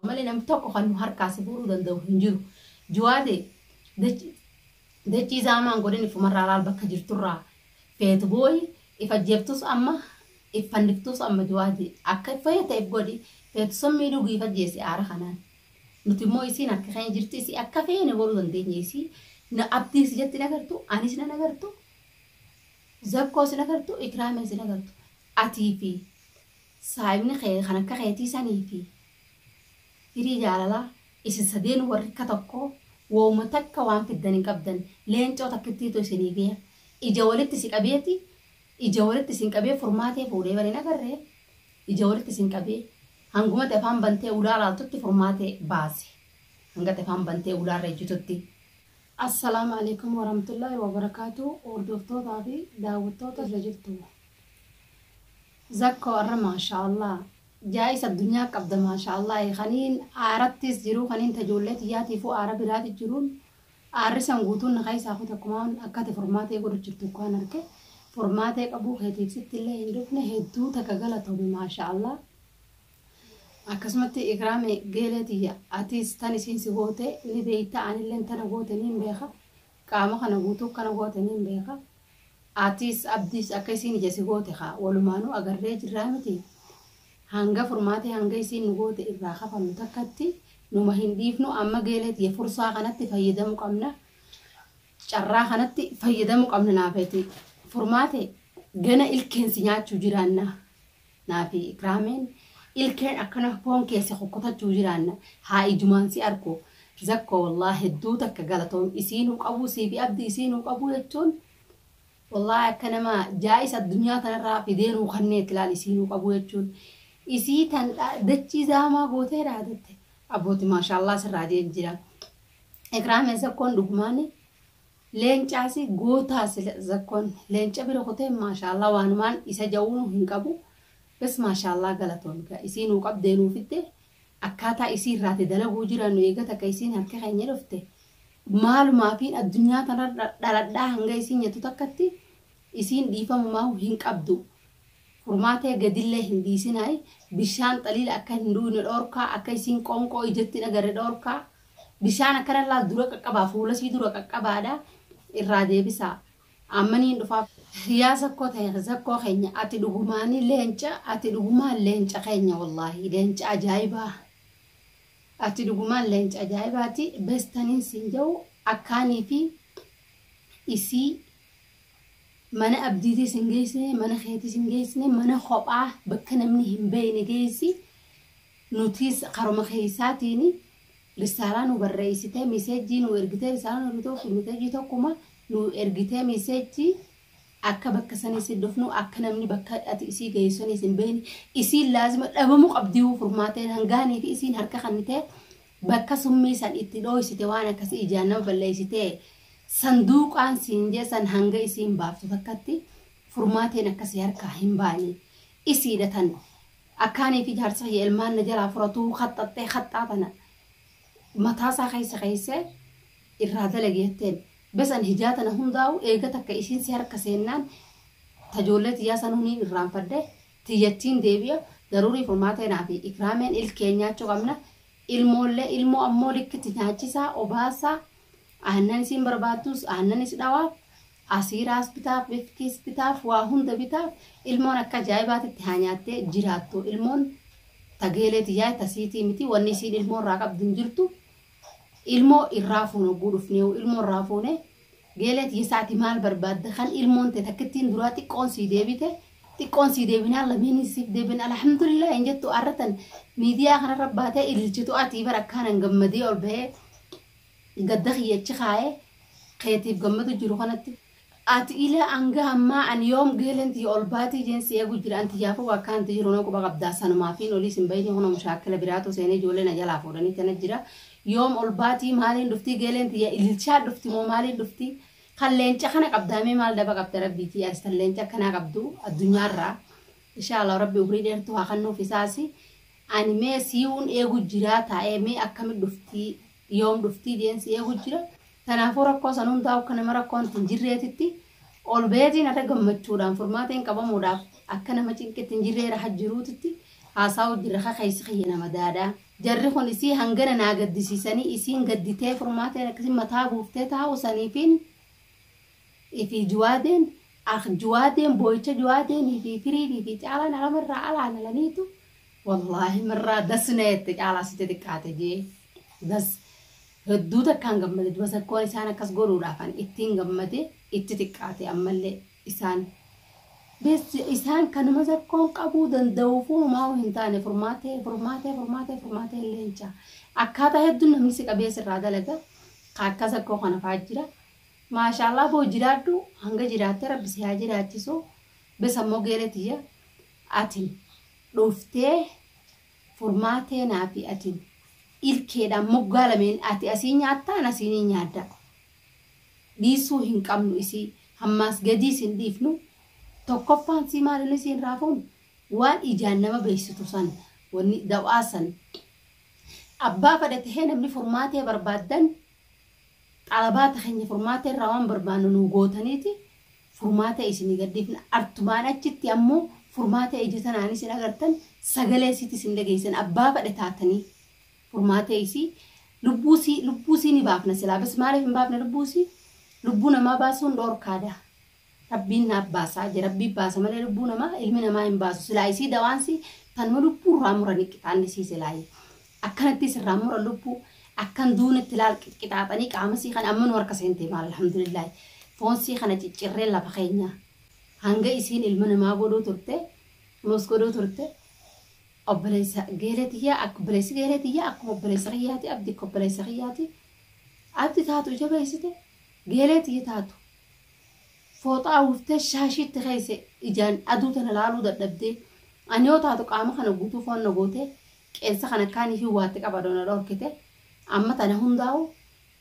malee namni tokko kan nu harkaa si fuudhuu danda'u hin jiru. Juwaate dachii zaamaan godhin ifumarraa laal bakka jirturraa feetu booyi if ajjeeftus amma if fanniftus amma juwaate akka if fayyata if godhi feetu summii dhugi if ajjeesi aara kanaan. Nuti immoo isiin harka keenya jirti isii akka feene godhuu dandeenya isii na abdiis ijatti nagartu anis na nagartu zakkoos nagartu ikraamee si nagartu atii fi Saahibni kee kan akka keetii sanii fi firii jaalalaa isin sadeenuu warri akka tokkoo wooma takka waan fiddan hin qabdan. Leencoo takkittiitu isinii fiya. Ija walitti si qabeeti ija walitti isin qabee furmaatee fuudhee bar hin agarre ija walitti isin qabee hanguma ati afaan bantee ulaa laaltutti furmaatee baase. Hanga ati afaan bantee ulaa irra ejjitutti. Assalaamu Aleeykum Warahmatullaahi Wabarakaatuh Hordoftootaa fi daawwattoota irra jirtu. Zakko arra maasha Allah jaa'is addunyaa qabda maasha Allahi kaniin aarattis jiruu kaniin ta ijoollee tiyyaatiifuu aara biraati jiruun aarri san guutuun na keessaa kute akkumaan akka ati furmaatee godhu jirtu akkaan arke furmaatee qabuu keetiif sittillee hin dhufne hedduu takka galatoomi maasha Allah akkasumatti ikraame geelee tiyya atis tan isiin si goote ni beeyta anilleen tana goote niin beeka qaama kana guutuu kana goote niin beeka Atis abdis akka isiin ija si goote kaa walumaanuu agarree jirraa miti hanga furmaatee hanga isiin nu goote irraa kafallu takkatti numa hin dhiifnu amma geelee tiyya fursaa kanatti fayyadamu qabna carraa kanatti fayyadamu qabna naafeeti furmaate gana ilkeen si nyaachu jiraanna. Naa fi ikraamiin ilkeen akkana foon keessa kukkutachuu jiraanna haa ijumaan si arku zakko wallahi hedduu takka galatoomi isiinuu qabuu sii fi abdii isiinuu qabuu jechuun wallahi akka nama jaa'isa addunyaa tanarraa fidee nuu kanneetti laal isiinuu qabuu jechuun isii tan dha- dachii zaamaa gootee dhaadatte abbooti maashaallah sirraa jeen jira ikraamee zakkoon dhugumaani Leencaasi gootaa sila zakkon leenca bira kutee maashaallah waanumaan isa ja'uunu hin qabu bes maashaallah galatoomi kaa isii nuu qabdee nuu fiddee akkaataa isii irraati dalaguu jiraannu eega takka isiin harka keenya dhufte maalumaafiin addunyaa tanarra dhaladhaa hanga isiin nyattu takkatti isiin dhiifamumaahu hin qabdu furmaatee gadillee hin dhiisinaayi bishaan xaliila akka hin dhuuyne dhoorkaa akka isiin qoonqoo ijatti hin agarre dhoorkaa Bishaan akka irra laal dura qaqqabaa fuula isii dura qaqqabaadha irraa deebisaa amma niin dhufaa. Yaa zakkoo tenya zakkoo keenya ati dhugumaanii leenca ati dhugumaan leenca keenya wallaahii leenca ajaa'ibaa ati dhugumaan leenca ajaa'ibaati bes taniin siin ja'u akkaanii fi isii mana abdiitii sin geessine mana keetii sin geessine mana kophaa bakka namni hin beeyne geessi Nutiis karuma keessaatiin risaalaa nuu barreessitee miseejjii nuu ergitee risaalaa nuu ergitee ofiif miseejjii tokkuma nuu ergitee miseejjii akka bakka sanii si dhufnu akka namni bakka ati isii geessu sanii sin beekne isiin laazima dhabamuu qabdiyuu furmaateen hangaanii fi isiin harka kannitee bakka summii san itti dhooysite waan akkasii ijaan nama balleessitee sanduuqaan siin jee san hanga isiin baaftu takkatti furmaateen akkasii harkaa hin baane isiidha tan Akka anii fi jaarsa kiyya ilmaan na jalaa furatuu khaxxaxxee khaxxaa tana mataa isaa keessa keessee irraa dalagi jetteen. Bes an hijaa tana hundaa'u eega takka isiin si harka seennaan ta joollee tiyyaa sanuu niin irraanfadhe tiyyattiin deebi'a daruurii furmaata anaa fi ikraameen ilkeen nyaachuu qabna ilmoollee ilmoo ammoo likkitti nyaachisaa obaasaa aannan isiin barbaadduus aannan is dhawaaf Asiiraas bitaaf, Rifkiis bitaaf, waa hunda bitaaf, ilmoon akka ajaa'ibaatitti haa nyaattee jiraattu. Ilmoon ta geelee tiyyaa ta siitii miti, wanni isiin ilmoo irraa qabdu hin jirtu. Ilmoo irraa fuuna hogguu dhufneehu, ilmoo irraa fuune, geelee tiyya sa'atii maal barbaadda? Kan ilmoon tee takkittiin duraa xiqqoon sii deebite, xiqqoon sii deebinaan lameenis siif deebi'an, alhamdulillah hin jettu arra tan miidiyaa kanarra baatee ililchitu atii bar akkaanan gammadee ol bahee Gadda kiyya achi kaayee keetiif gammadu jiru kanatti ati ilaa hanga ammaa ani yoom geeleen tiyya ol baatii jeen si eegu jira an tiyyaafuu bakka anti jiru nan quba qabdaa sanumaafiin oliis hin bayinii kunoo mushaakkila biraatu seenee ijoollee na jalaa fuudhanii tana jira yoom ol baatii maaliin dhuftii geeleen tiyya ililchaa dhufti moo maaliin dhuftii kan leenca kana qabdaa mee maal daba qabda rabbiitii ati tan leenca akkanaa qabdu addunyaarraa inshaa Allah rabbi umrii dheertuu haa kannuuf isaasi Ani mee siun eegu jiraa taa'ee mee akkami dhuftii yoom dhuftii jeen si eegu jira tanaafuu rakkoo san hundaa akka nama rakkoon tin jirreetitti ol beetiin adha gammachuudhaan furmaateen qabamuudhaaf akka nama cinqitti hin jirree raha jiruutitti haasaa'u jirra ka keessi kiyya nama daadha jarri kun isii hangana naa gaddisiisanii isiin gadditee furmaateen akkasii mataa buuftee taa'u saniifiin fi juwaadeen akh juwaadeen booyicha juwaadeen fi firiidii fi caalaan alama irraa alaa nalaniitu wallaahi mirraa das na jette caalaa sitti xiqqaate jee das hedduu takkaan gammade duba sakkoon isaan akkas godhuudhaafan ittiin gammade itti xiqqaate ammallee isaan bis isaan kanuma sakkoon qabuu danda'uufuu homaa hin taane furmaatee furmaatee furmaatee furmaatee leencaa akkaataa hedduun namni si qabee sirraa dalaga ka akka sakkoo kana fa'aa jira Maashaallah boo jiraadhu hanga jiraatte rabbi si haa jiraachisu besa mogeele tiyya atin dhuftee furmaa teenaa fi atin ilkeedhaan moggaa lameen ati asii nyaatta an asii ni nyaadda dhiisuu hin qabnu isii hammaas gadiis hin dhiifnu tokkoffaan sii maalin isiin raafuun waan ijaan nama beeksitu san wanni dawaa san abbaa fadha tahee namni furmaatee barbaaddan Xalabaata keenya furmaata irraa waan barbaannu nuu gootaniiti furmaata isinii gad dhiifna. Artumaan achitti ammoo furmaata ija tanaan isin agartan, sagalee isiitis hin dhageessan. Abbaa fedhe taatanii furmaata isii, lubbuu isii, lubbuu isii ni baafna silaa bas maaliif hin baafna lubbuu isii? Lubbuu namaa baasuun dhoorkaadha. Rabbiin naaf baasaa je rabbii baasa malee lubbuu namaa ilmi namaa hin baasu silaa isii dawaansi tanuma lubbuu irraa murani qixaanni sii silaayi akkanatti sirraa muran lubbuu akkan duunetti laal qixaaxanii qaama sii kana amma nu harka seentee maal alhamdulillaahi foon sii kana ciccirree lafa keenya hanga isiin ilma namaa godhuu turte kunuus godhuu turte obboleessa geelee tiyyaa akka obboleessi geelee tiyyaa akkuma obboleessa kiyyaati abdi akka obboleessa kiyyaati abdi taatu jabeessite geelee tiyya taatu Fooxaa uwwiftee shaashii itti keesse ijaan aduu tana laaluu dadhabdee. Ani yoo taatu qaama kana guutuu foon na gootee qeensa kana akkaan ifiin waatte qabadoo na dhorkite. Amma tana hundaa'uu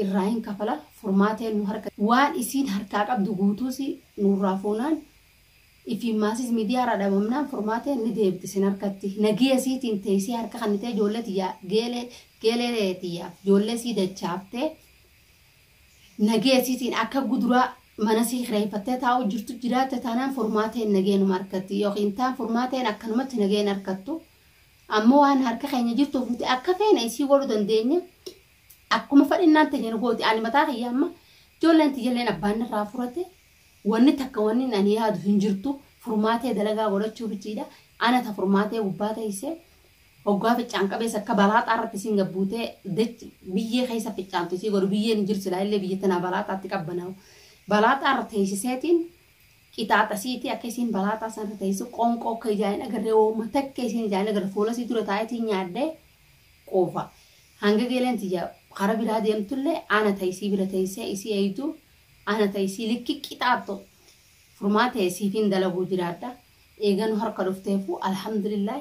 irraa hin kafala furmaateen nu harka. Waan isiin harkaa qabdu guutuus nurraa fuunaan ifiin maasis midiyaarraa dhabamnaan furmaateen ni deebiti isin harkatti. Nagiya isiitiin teessee harka kannitee ijoollee tiyyaa geelee geelee tiyyaaf ijoollee isii dachaaftee Nagaya isiitiin akka guduraa mana isii kireeffattee taa'uu jirtu jiraatte taanaan furmaata hin nageenuma argatti yookiin taan furmaata hin akkanumatti nagaa hin argattu ammoo waan harka keenya jirtuuf nuti akka feene isii godhu dandeenya akkuma fadhinnaan teenya nu gooti ani mataa kiyya amma ijoolleen tiyyaleen abbaan irraa furate wanni takka wanni hin ani yaadu hin jirtu furmaatee dalagaa godhachuu bichiidha ana ta furmaatee gubbaa teessee Hoggaa ficcaan qabeessi akka balaaxaa irratti isiin gad buutee dachi biyyee keessa ficcaantu isii godhu biyyeen hin jiru silaa illee biyya tanaa balaaxaatti qabbanaa'u balaaxaa irra teeysiseetiin qixaaxasiitii akka isiin balaaxaa san irra teeysu qoonqoo akka ijaa hin agarree wooma takka isiin ijaa hin agarre fuula isii dura taa'eetiin nyaadhee quufa hanga geeleen tiyya kara biraa deemtullee ana ta isii bira teeysee isii eeydu ana ta isii likki qixaaxxu furmaatee siifin dalaguu jiraadha eeganu harka dhufteefu alhamdulillah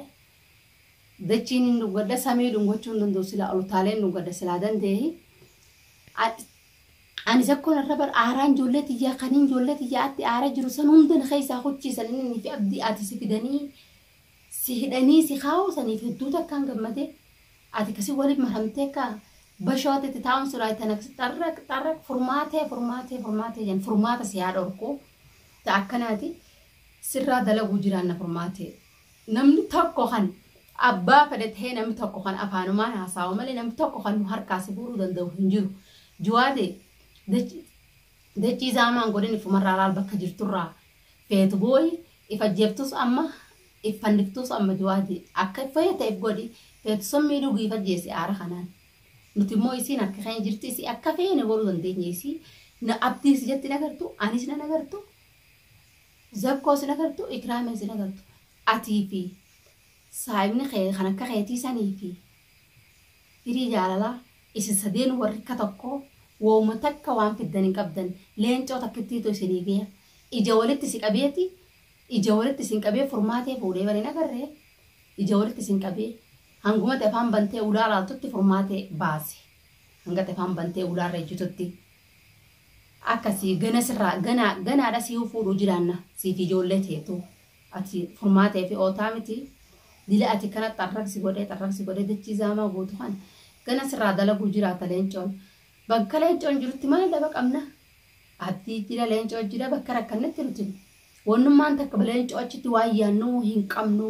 Dachiin hin dhuggadda samii dhungochuu hin danda'u silaa ol utaaleen dhuggadda silaa dandeehi. Anis akkoon irra bar aaraan ijoollee tiyyaa kaniin ijoollee tiyyaa atti aara jiru san hunda na keessaa kuchiisan inni fi abdii ati si fidanii si hidhanii si kaa'uu saniif hedduu takkaan gammade ati kasi waliin maramtee akka bashoo ati itti taa'uun siraa itti anakasi xarraq xarraq furmaatee furmaatee furmaatee jan furmaata si haa dhorku ta akkanaati sirraa dalaguu jiraanna furmaatee. Namni tokko kan abbaa fedhe tahee namni tokko kan afaanumaan haasaawa malee namni tokko kan nu harkaa si fuudhuu danda'u hin jiru. Juwaade dachi- dachii zaamaan godhin ifumarraa laal bakka jirturraa feetu booyi if ajjeeftus amma if fanniftus amma juwaade akka if fayyate if godhi feetu summii dhugi if ajjeesi aara kanaan. Nuti immoo isiin harka keenya jirti isii akka feene godhuu dandeenya isii na abdiis jetti nagartu anis na nagartu Zakkoos hin agartu ikraamiis hin agartu atii fi saahibni kee kan akka keetii sanii fi firii jaalalaa isin sadeenuu warri akka tokkoo wooma takka waan fiddan hin qabdan leencoo takkittiitu isinii geya ija walitti si qabeeti ija walitti isin qabee furmaatee fuudhee bar hin agarre ija walitti isin qabee hanguma ati afaan bantee ulaa laaltutti furmaatee baase hanga ati afaan bantee ulaarra ejjitutti. akkasi gana sirraa gana ganaadha siyuu fuudhuu jiraanna siifi ijoollee teetu ati furmaata fi ootaa miti dila ati kana xarraq si godhee xarraq si godhee dachii zaamaa guutu kan gana sirraa dalaguu jiraata leencoon bakka leencoon jirutti maal daba qabna ati jira leencoo jira bakka rakkannetti nuti wannummaan takka leencoo achitti waan yaannuu hin qabnu